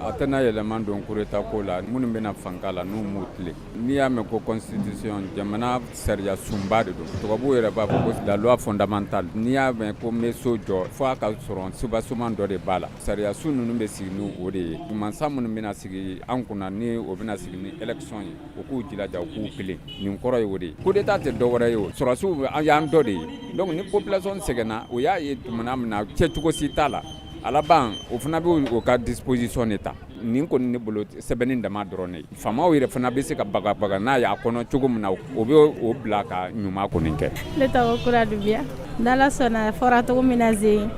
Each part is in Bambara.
a tɛna yɛlɛman don kudeta ko la minnu bɛna fanga la n'u m'u tilen n'i y'a mɛn ko constitution jamana sariya sunba de don tubabu yɛrɛ b'a fɔ ko la loi fondamentale n'i y'a mɛn ko n bɛ so jɔ fo a ka sɔrɔ soubassement dɔ de b'a la sariya sun ninnu bɛ sigi ni o de ye mansa minnu bɛna sigi an kunna ni o bɛna sigi ni élection ye o k'u jilaja u k'u tilen nin kɔrɔ ye o de ye coup d'état tɛ dɔwɛrɛ ye o sɔrɔdasiw y'an dɔ de ye donc ni population sɛgɛnna o y'a ye tumana min na cɛcogo si t'a la a laban o fana bɛ o ka disposition de ta nin kɔni ne bolo sɛbɛnni dama dɔrɔn de faamaw yɛrɛ fana bɛ se ka bagabaga n'a y'a kɔnɔ cogo min na o bɛ o bila ka ɲuman kɔni kɛ ne tɔgɔ Kura Dunbiya n'Ala sɔnna fɔra cogo min na Zen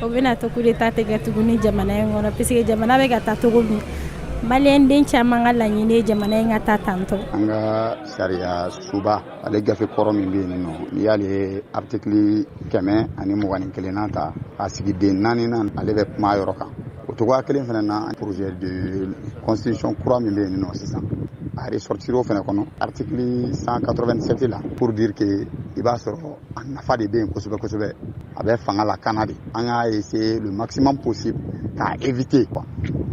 o bɛna to coup d'Etat tɛ kɛ tuguni jamana in kɔnɔ parce que jamana bɛ ka taa cogo min maliyɛnden caman ka laɲini ye jamana in ka taa tantɔ an ka sariya sunba ale gafe kɔrɔ min bɛ yen nɔ n'i y'ale aritiki kɛmɛ ani mugan ni kelenna ta a sigiden naaninan ale bɛ kuma yɔrɔ kan o cogoya kelen fana na projet de constitution kura min bɛ yen nɔ sisan a ressortira o fana kɔnɔ article cent quatre-vingt-sept la pour dire que i b'a sɔrɔ a nafa de bɛ yen kosɛbɛ kosɛbɛ a bɛ fanga lakana de an y'a essayer le maximum possible k'a éviter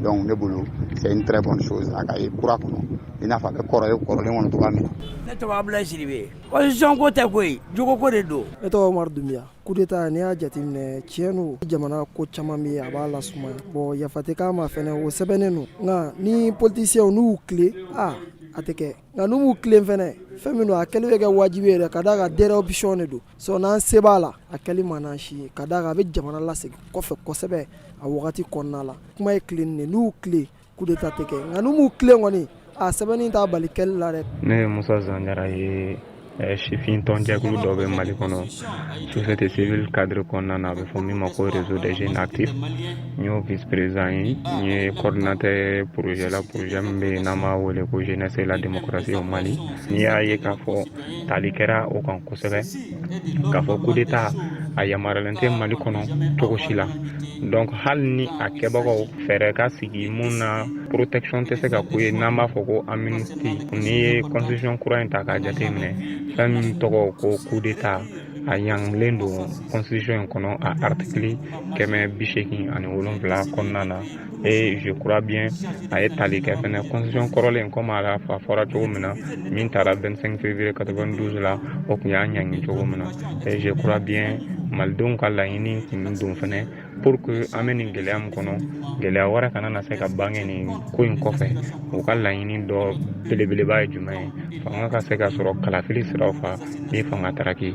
donc ne bolo c'est une très bonne chose a ka ye kura kɔnɔ i n'a fɔ a bɛ kɔrɔ ye kɔrɔlen kɔnɔ cogoya min na. ne tɔgɔ Abulayi Sidibe constitution ko tɛ koyi jogo ko de don. ne tɔgɔ Umaru Dunbiya coup d'état n'i y'a jateminɛ tiɲɛ don jamana ko caman bɛ yen a b'a lasumaya bon yafa tɛ k'a ma fɛnɛ o sɛbɛnnen don nka ni politiciens n'u y'u tilen a a tɛ kɛ nka n'u m'u tilen fɛnɛ fɛn min don a kɛli bɛ kɛ wajibi yɛrɛ ka d'a kan dernière option de don sinon sɛbɛ la a kɛli man d'an si ye ka d'a kan a bɛ jamana lasegin kɔfɛ kosɛbɛ a wagati kɔnɔna la kuma ye tilenni de n'u tilen Coup d'Etat tɛ kɛ nka n'u m'u tilen kɔni a sɛbɛnni t'a bali kɛli la dɛ. Ne ye Musa Zan Jara ye sifin tɔnjɛkulu dɔ bɛ Mali kɔnɔ société civile cadre kɔnɔna na a bɛ fɔ min ma ko réseau des jeunes actifs n y'o vice président ye n ye coordinateur projet la projet min bɛ yen n'an b'a wele ko jeunesse et la démocratie au Mali n'i y'a ye k'a fɔ tali kɛra o kan kosɛbɛ k'a fɔ kudeta a yamaruyalen tɛ mali kɔnɔ cogo si la donc hali ni a kɛbagaw fɛɛrɛ ka sigi mun na protection tɛ se ka k'u ye n'an b'a fɔ ko amnistie n'i ye constitution kura in ta k'a jateminɛ fɛn min tɔgɔ ko kudeta a ɲangilen don constitution in kɔnɔ a artikili kɛmɛ bi seegin ani wolonfila kɔnɔna na et je crois bien a ye tali kɛ fɛnɛ constitution kɔrɔlen komi a fɔra cogo min na min tara 25 février 92 la o tun y'a ɲangi cogo min na et je crois bien malidenw ka laɲini tun don fɛnɛ pour que an bɛ nin gɛlɛya min kɔnɔ gɛlɛya wɛrɛ kana na se ka bange nin ko in kɔfɛ u ka laɲini dɔ belebeleba ye jumɛn ye fanga ka se ka sɔrɔ kalafili siraw fɛ ni fanga tara ki